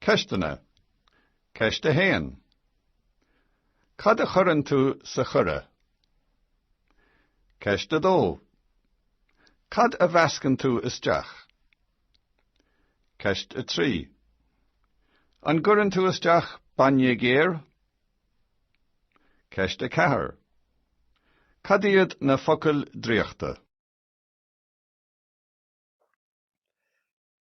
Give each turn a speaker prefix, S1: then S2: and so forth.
S1: Ceisteanna. Ceist a 1. Cad a chuireann tú sa choire? Ceist a 2. Cad a mheascann tú isteach? Ceist a 3. An gcuireann tú isteach bainne géar? Ceist a 4. Cad iad na focail draíochta?